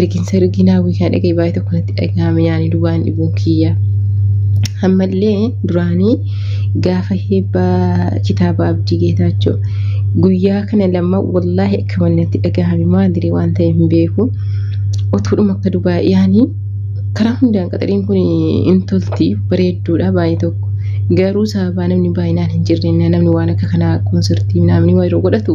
ergiinsa ergiin hawwii kaa dhagee baay'ee tokko natti dhagahame yaani dubaan dhibuun kiyya. Ammallee duraanii gaafa heebbaa kitaaba abdii geetaachoo guyyaa kana lama wallaahi akka malee natti dhagahame maaliree waan ta'e hin beeku. Otuudhuma akka dubaa yaani karaa hundaan qaxariin kun hin tolti bareedduudha baay'ee tokko. Garuu sababaa namni baay'inaan hin jirre namni waan akka kanaa konsartii namni yeroo godhatu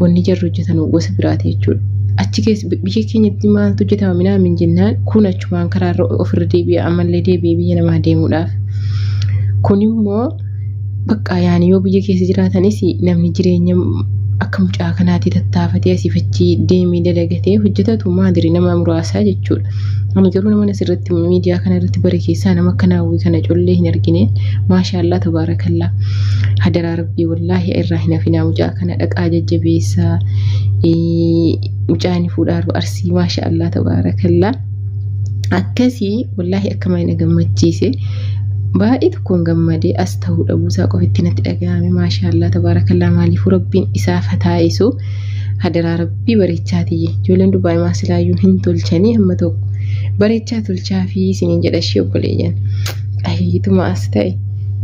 wanni jarri hojjetan gosa biraati jechuudha. Achi keessa biyya keenyatti maaltu hojjetama minaa min jennaan kun achumaan karaa irra ofirra deebi'a ammallee deebi'ee biyya namaa deemuudhaaf. Kun immoo bakka yaani yoo biyya keessa jiraatanis namni jireenya akka mucaa kanaatti tattaafatee asii fachii deemee dalagatee hojjetatu maadiri nama muraasaa jechuudha. Ani garuu nama asirratti miidiyaa kana irratti bare keessaa nama akka naawwii kana collee hin argine maashaallaa tabaarakallaa hadaraa Wallaahi irraa hin hafinaa mucaa kana dhaqaa jajjabeessaa mucaan fuudhaa arba arsii maasha Allah tabaarakallaa akkasii wallaahi akka mana gammachiise baay'ee tokkoon gammadee as ta'uu dhabuusaa qofitti natti dhaga'ame maasha Allah tabaarakallaa maaliifuu rabbiin isaa fataa'isu hadaraa rabbii bareechaatii ijoolleen dubaa'e maasilaayyuu hin tolchanii hamma tokko bareechaa tolchaa fi isiniin jedha ishee obboleeyyan ahiyyituma as ta'e.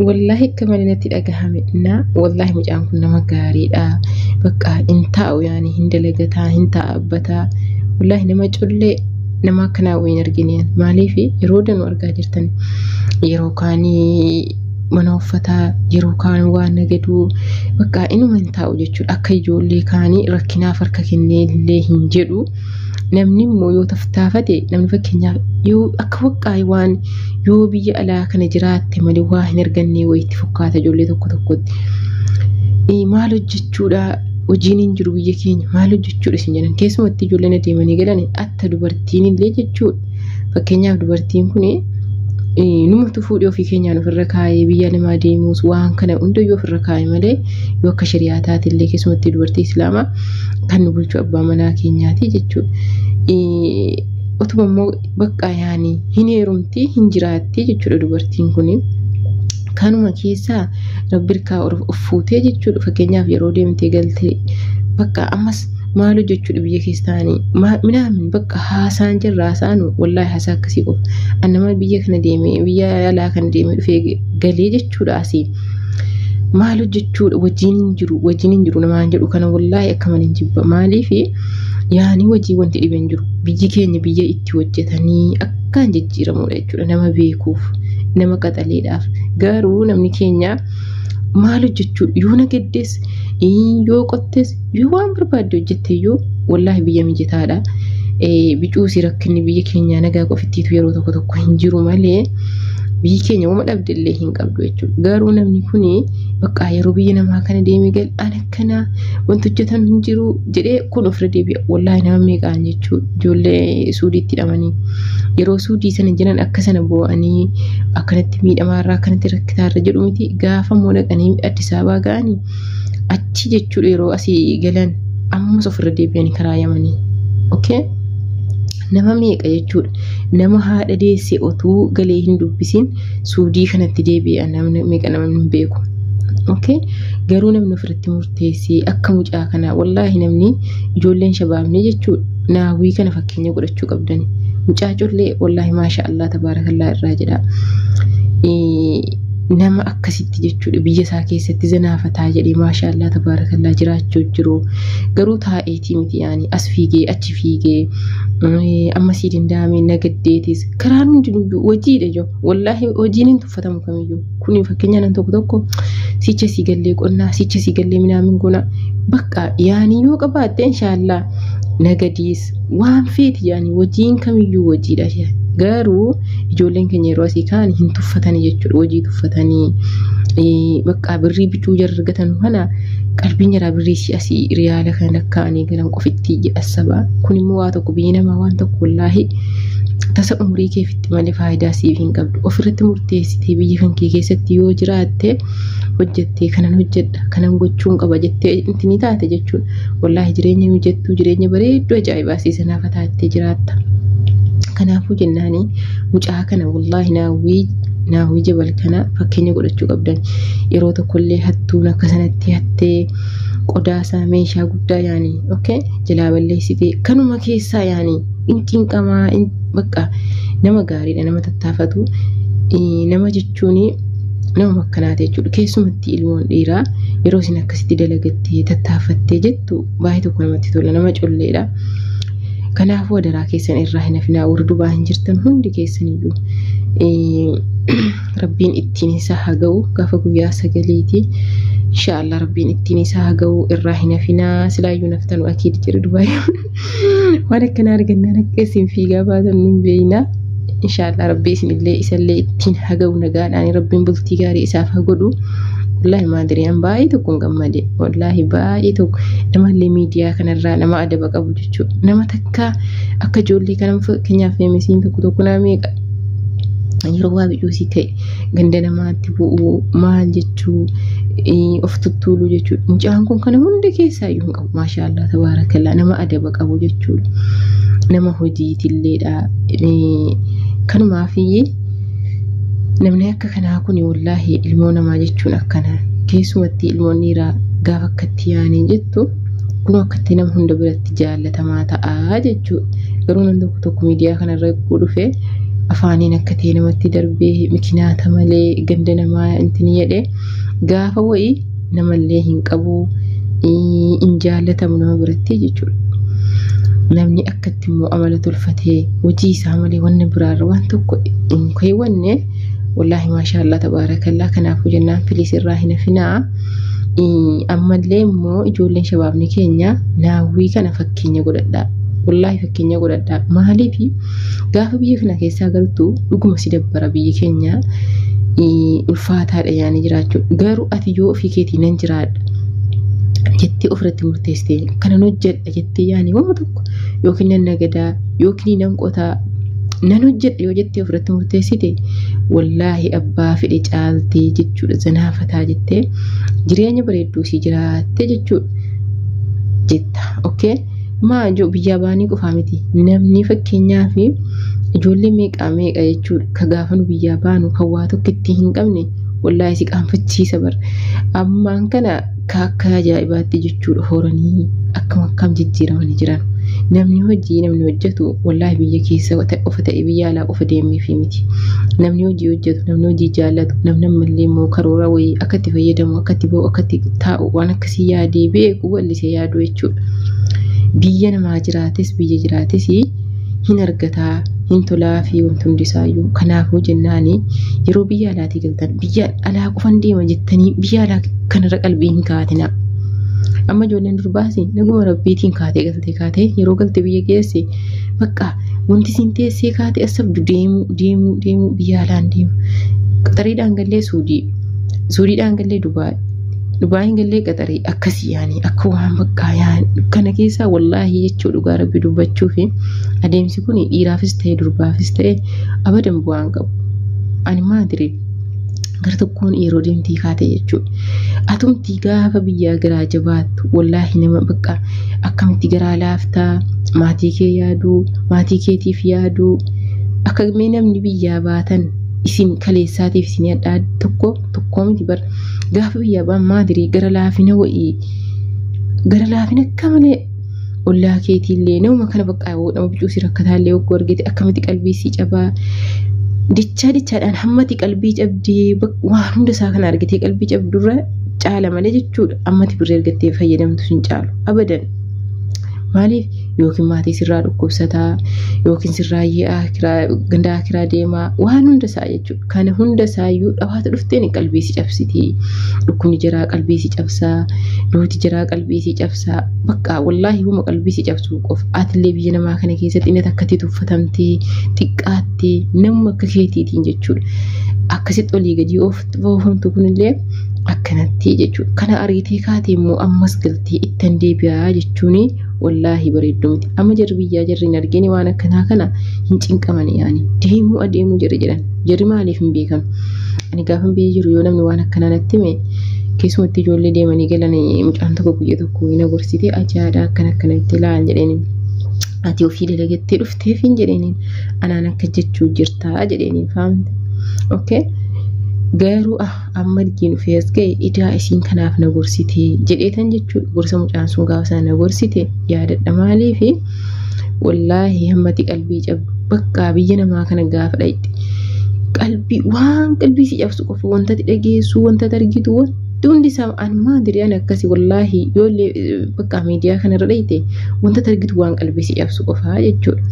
Wallaahi akka malee natti dhagahame na wallaahi mucaan kun nama gaariidha bakka hin taa'u yaani hin dalagataa hin taa'abbataa wallaahi nama cullee nama akkanaa wayii hin argine maaliif yeroo danuu argaa jirtan yeroo kaanii mana uffataa yeroo kaan waan nagaduu bakka inuma hin taa'u jechuudha akka ijoollee kaanii rakkinaaf harka kennee illee hin jedhu. namni immoo yoo taftaafate namni fakkeenyaaf yoo akka waqqaa'e waan yoo biyya alaa kana jiraatte malee waa hin argannee wayitti fakkaata ijoollee tokko tokkotti. Eh, Maal hojjechuudha hojiin hin jiru biyya keenya maal hojjechuudha isin jedhan keessumatti ijoolleen adeemanii galan atta dubartiin illee jechuudha. Fakkeenyaaf dubartiin kun numa tufuudhi ofii keenyaan ofirra kaa'ee biyya namaa deemuus waan kana hundayyuu ofirra kaa'e malee yoo akka shari'aa taate illee keessumattuu dubartii islaamaa kan nu bulchu abbaa manaa keenyaati jechuudha. Otuma immoo bakka yaani hin heerumti hin jiraatti jechuudha dubartiin kun. Kanuma keessaa rabbi irkaa of fuutee jechuudha fakkeenyaaf yeroo deemtee galtee bakka ammas maal hojjechuudha biyya keessa taa'anii minaamin bakka haasaan jirra haasaan wallaahi haasaa akkasii qofa an nama biyya kana deemee biyya alaa kana deemee dhufee galee jechuudha asii maal hojjechuudha wajjin hin jiru wajjin hin jiru namaan jedhu kana wallaahi akkaman hin jibba maaliif yaanii wajjin wanti dhibe hin jiru biyyi keenya biyya itti hojjetanii akkaan jijjiiramudha jechuudha nama beekuuf nama qaxaleedhaaf garuu namni keenya maal hojjechuudha yoo nageddes yoo qottes yoo waan barbaadde hojjette iyyuu wallaahi biyya mijataadha. Bicuusi rakkinni biyya keenyaa nagaa qofittiitu yeroo tokko tokko hin jiru malee biyyi keenya wama dhabde illee hin qabdu jechuudha. Garuu namni kun bakka yeroo biyya namaa kana deemee gal an akkanaa wanti hojjetan hin jiru jedhee kun ofirra deebi'a. Wallaahi nama meeqaan jechuudha ijoollee suudiitti hidhamanii yeroo suudii sana jiran akka sana boo'anii akkanatti miidhamaarraa akkanatti rakkitaarra jedhu miti gaafa immoo dhaqanii Addis Ababaa ga'anii achi jechuudha yeroo asii galan ammas ofirra deebi'anii karaa yamanii okay nama meeqa jechuudha nama haadha deesse otuu galee hin dubbisin suudii kanatti deebi'a namni meeqa namni hin beeku okay garuu namni ofirratti murteessee akka mucaa kanaa wallaahi namni ijoolleen shabaabnee jechuudha naawwii kana fakkeenya godhachuu qabdani mucaa collee wallaahi maasha allah tabaarakallaa irraa jedha. nama akkasitti jechuudha biyya isaa keessatti zanaafataa jedhee maashaallaa tabaarakallaa jiraachuu jiru garuu taa'eetii miti yaani as fiigee achi fiigee amma sii danda'ame nagaddeetis karaan hundinuyyuu hojiidha jiru wallaahi hojiin hin tuffatamu kamiyyuu kun fakkeenya nan tokko tokko sicha sii gallee qonnaa sicha sii gallee minaamin gonaa bakka yaani yoo qabaatte inshaallah nagadiis waan feeti yaani hojiin kamiyyuu hojiidha jedha. Garuu ijoolleen keenya yeroo asii ka'an hin tuffatanii jechuudha. Hojii tuffatanii eh, bakka birrii bituu jarri argatan kana qalbiin jaraa birrii si asii riyaala kan lakkaa'anii galan qofitti jedha sabaa. Kun immoo waa tokko biyyi namaa waan tokko wallaahi tasa umurii keefitti malee faayidaa siif hin qabdu. Ofirratti murteessitee biyya kan kee keessatti yoo jiraatte hojjettee kanan hojjedha kanan gochuun qaba jettee itti ni taate jechuun wallaahi jireenya mijattuu jireenya bareedduu ajaa'ibaa siisanaafa taattee jiraatta. Kanaafuu jennaanii mucaa kana wallaahi naawwii naawwii jabal kana fakkeenya godhachuu qabdan yeroo tokkollee hattuun akka sanatti hattee qodaasaa meeshaa guddaa yaanii okay jalaa balleessitee kanuma keessaa yaanii in cinqamaa in bakka nama gaariidha nama tattaafatu nama jechuudha. jechuun nama makkanaati jechuudha. Keessumatti ilmoon dhiiraa yeroo isin akkasitti dalagattee tattaaffattee jettu baay'ee tokko namatti tola nama colleedha. Kanaafuu adaraa keessan irraa hin hafinaa warri dubaa hin jirtan hundi keessaniyyuu rabbiin ittiin isaa haa ga'u gaafa guyyaa sagaliiti. Inshaallah rabbiin ittiin isaa haa ga'u irraa hin hafinaa silaayyuu naftanu akiid jedhu dubaayyoon. waan akkana argannaan akka isin fiigaa baatan nun beeyna inshaallah rabbi isinillee isallee ittiin haga'u nagaadhaan rabbiin bultii gaarii isaaf haa godhu wallaahi maadiriyaan baay'ee tokko hin gammade wallaahi baay'ee tokko namallee miidiyaa kanarraa nama adaba qabu jechuudha nama takka akka ijoollee kana fakkeenyaaf feemisiin tokko tokko naa meeqa yeroo waa biyyuusii ta'e ganda namaatti bu'uu maal jechuu of tuttuuluu jechuudha mucaan kun kana hunda keessaa iyyuu hin qabu. Maashaallah tabaarakallaa nama adaba qabu jechuudha. Nama hojiitilleedha. Kanumaafii namni akka kanaa kun wallaahi ilmoo namaa jechuun akkana keessumatti ilmoon dhiiraa gaafa akkatti yaanii jettu kun akkatti nama hunda biratti jaallatamaa ta'a jechuudha. Garuu namni tokko tokko miidiyaa kanarra eeguu dhufee afaaniin akka ta'e namatti darbee mikinaata malee ganda namaa intin jedhee gaafa wayii namallee hin qabu hin jaallatamu nama biratti jechuudha. Namni akkatti immoo amala tolfatee hojii isaa malee wanna biraarra waan tokko hin keewwanne wallaahi maashaallah tabaarakallaa kanaafuu jennaan filiis irraa hin hafinaa. Ammallee immoo ijoolleen shabaabni keenya naawwii kana fakkeenya godhadhaa. Wallaahi fakkeenya godhadhaa. Maaliif Gaafa biyya kana keessaa galtu dhuguma si dabbara biyyi keenya ulfaataadha yaanii jiraachuu garuu ati yoo ofii keetii nan jiraadha jettee ofirratti murteessitee kanan hojjedha jettee yaanii waan tokko yookiin nan nagadaa yookiin nan qotaa nan hojjedha yoo jettee ofirratti murteessite wallaahi abbaa fedhe caaltee jechuudha zanaafataa jettee jireenya bareedduu si jiraattee jechuudha jetta okay. maa ijoo biyyaa baanii qofaa miti namni fakkeenyaa fi ijoollee meeqaa meeqa jechuudha ka gaafanu biyyaa baanu kan waa tokko itti hin qabne wallaahi si qaanfachiisa bar ammaan kana ka akka ajaa'ibaatti jechuudha horanii akkam akkam jijjiiramanii jiran namni hojii namni hojjetu wallaahi biyya keessa qofa ta'e biyya alaa qofa deemee fi miti namni hojii hojjetu namni hojii jaallatu namni ammallee immoo karoora wayii akka itti fayyadamu akka itti ba'u akka itti taa'u waan akka si yaadee beeku walli si yaadu jechuudha. Biyya namaa jiraates biyya jiraates hin argataa hin tolaa fi wanti hundi isaayyuu kanaafuu jennaan yeroo biyya alaatii galtan biyya alaa qofan deema jettanii biyya alaa kanarra qalbii hin kaatina. Amma ijoolleen durbaas naguma rabbiitiin kaatee galtee kaatee yeroo galte biyya geesse bakka wanti siin teessee kaatee as sabdu deemuu deemuu deemuu biyya alaan deemu. Qaxariidhaan gallee suudii suudiidhaan gallee dubaay Dhugaa hin gallee qaxarii akkasii yaani akka waan baqqaa yaani kana keessaa wallaahi jechuu dhugaa rabbi dubbachuu fi adeemsi kun dhiiraafis ta'e durbaafis ta'e abadan bu'aan qabu. Ani maadire gara tokkoon yeroo deemtii kaate jechuudha. Atumti gaafa biyyaa garaa jabaattu wallaahi nama baqqaa akkamitti garaa laaftaa maatii kee yaaduu maatii keetiif yaaduu akka mee namni biyyaa baatan isin kaleessaatiif isin adda tokko tokkoo miti bar gaafa biyya abbaan maadirii gara laafina wa'ii gara laafina akka malee ollaa keetiillee nama kana bakka yoo nama bicuusi rakkataallee yoo argite akkamitti qalbii sii cabaa dichaa dichaadhaan hammati qalbii cabdee waan hunda isaa kana argitee qalbii cabdurra caala malee jechuudha ammati birrii argattee fayyadamtu sin caalu abadan maaliif yookiin maatii sirraa dhukkubsataa yookiin sirraa yi'aa gandaa kiraa deemaa waan hunda isaa jechuudha. Kana hunda isaayyuu dhawaata dhufteen qalbii si cabsiti. Dhukkubni jiraa qalbii si cabsaa. Duuti jiraa qalbii si cabsaa. Bakka wallaahi huma qalbii si cabsuu qofa. Atillee biyya namaa kana keessatti inni takkatti tuffatamtee xiqqaattee namuma akka keetiitiin jechuudha. Akkasitti olii gadii oofamtu kunillee akkanatti jechuudha. Kana ariitee kaatee immoo ammas galtee ittan deebi'aa jechuun wallaahi bareedduu miti amma jarri biyyaa jarri hin argini waan akkanaa kana hin cinqamani yaani deemuu adeemuu jedhe jedhan jarri maaliif hin beekan ani gaafan biyya jiru yoo namni waan akkanaa natti hime keessumatti ijoollee deemanii galan mucaan tokko guyya tokko hin agorsite ajaa'aadha akkan akkana itti laal jedheen ati ofii dalagattee dhufteef hin jedheen anaan akka jechuu jirtaa jedheen faamte okay garuu ah amma argiin dhufee as ga'e idaa isiin kanaaf na gorsite jedheetan jechuudha gorsa mucaan sun gaafa sana na gorsite yaadadha maaliif wallaahi hammati qalbii cabdu bakka biyya namaa kana gaafa dhaqxe qalbii waan qalbii si cabsu qofa wantati dhageessu wantati argitu wanti hundi isaa an maadiri an akkasi wallaahi yoollee bakka miidiyaa kanarra dhaqxe wantati argitu waan qalbii si cabsu qofa jechuudha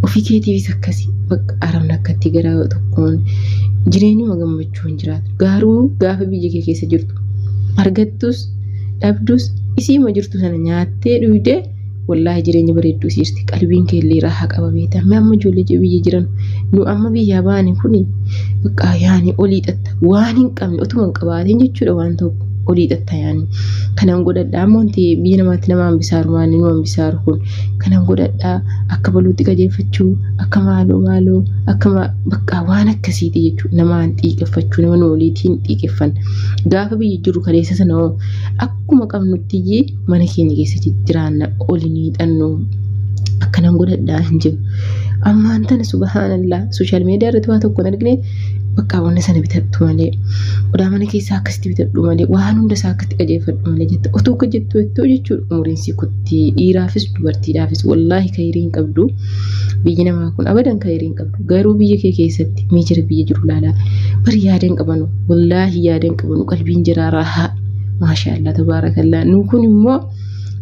ofii keetiifis akkasi bakka aramna akkatti gara tokkoon jireenyuma gammachuu. jechuu hin jiraatu. Garuu gaafa biyya kee keessa jirtu argattus dhabdus isiima jirtu sana nyaattee dhuydee wallaahi jireenya bareedduu siirti qalbiin kee illee raaha qaba beekta amma amma ijoollee biyya jiran nu amma biyyaa baane kuni bakka yaani olii xatta waan hin qabne otuma hin qabaatiin jechuudha waan tokko olii xatta yaani kanaan godhadha amma wanti biyya namaatti nama hambisaaru maanni nu hambisaaru kun kanaan godhadha akka baluutti qajeelfachuu akka maaloo maaloo akka Baqqaa waan akkasiiti jechuudha. Namaan xiiqeffachuu nama nu waliitiin xiiqeffan. Gaafa biyya jiru kaleessa sana hoo akkuma qabnutti iyyee mana keenya keessatti jiraanna oli ni hidhannu. Akkanan godhadhaa hin jiru. Ammaan tana subhaanallaa sooshaal miidiyaa irratti waa tokko hin argine baqqaa wanna sana bitadhu malee qodaa mana keessaa akkasitti bitadhu malee waan hunda isaa akkatti qajeelfadhu malee jette otoo akka jettu jettoo jechuudha umuriin sii kutti dhiiraafis dubartiidhaafis wallaahi kayirii hin qabdu biyyi namaa kun abadan kayirii hin qabdu. garuu biyya kee keessatti mee jira biyya jiru laalaa bari yaada hin qabanu wallaahi yaada hin qabanu qalbiin jiraa raahaa maashaallah tabaarakallaa nu kun immoo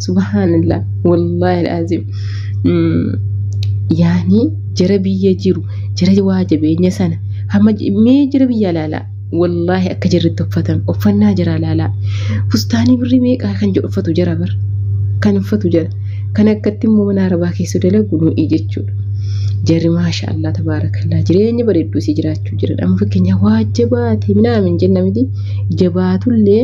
subhaanallah wallaahi alaaziim yaani jira biyya jiru jira waa jabeenya sana hamma mee jira biyya laalaa Wallaahi akka jarri itti uffatan uffannaa jaraa laalaa. Fustaanii birrii meeqaa kan jedhu uffatu jara bar. Kan uffatu jara. Kan akkatti immoo mana arabaa keessa dalagu nu'i jechuudha. Jarri maasha Allah tabaarakallaa jireenya bareedduu isii jiraachuu jiran. Amma fakkeenyaaf waa jabaate minaamin jenna miti jabaatullee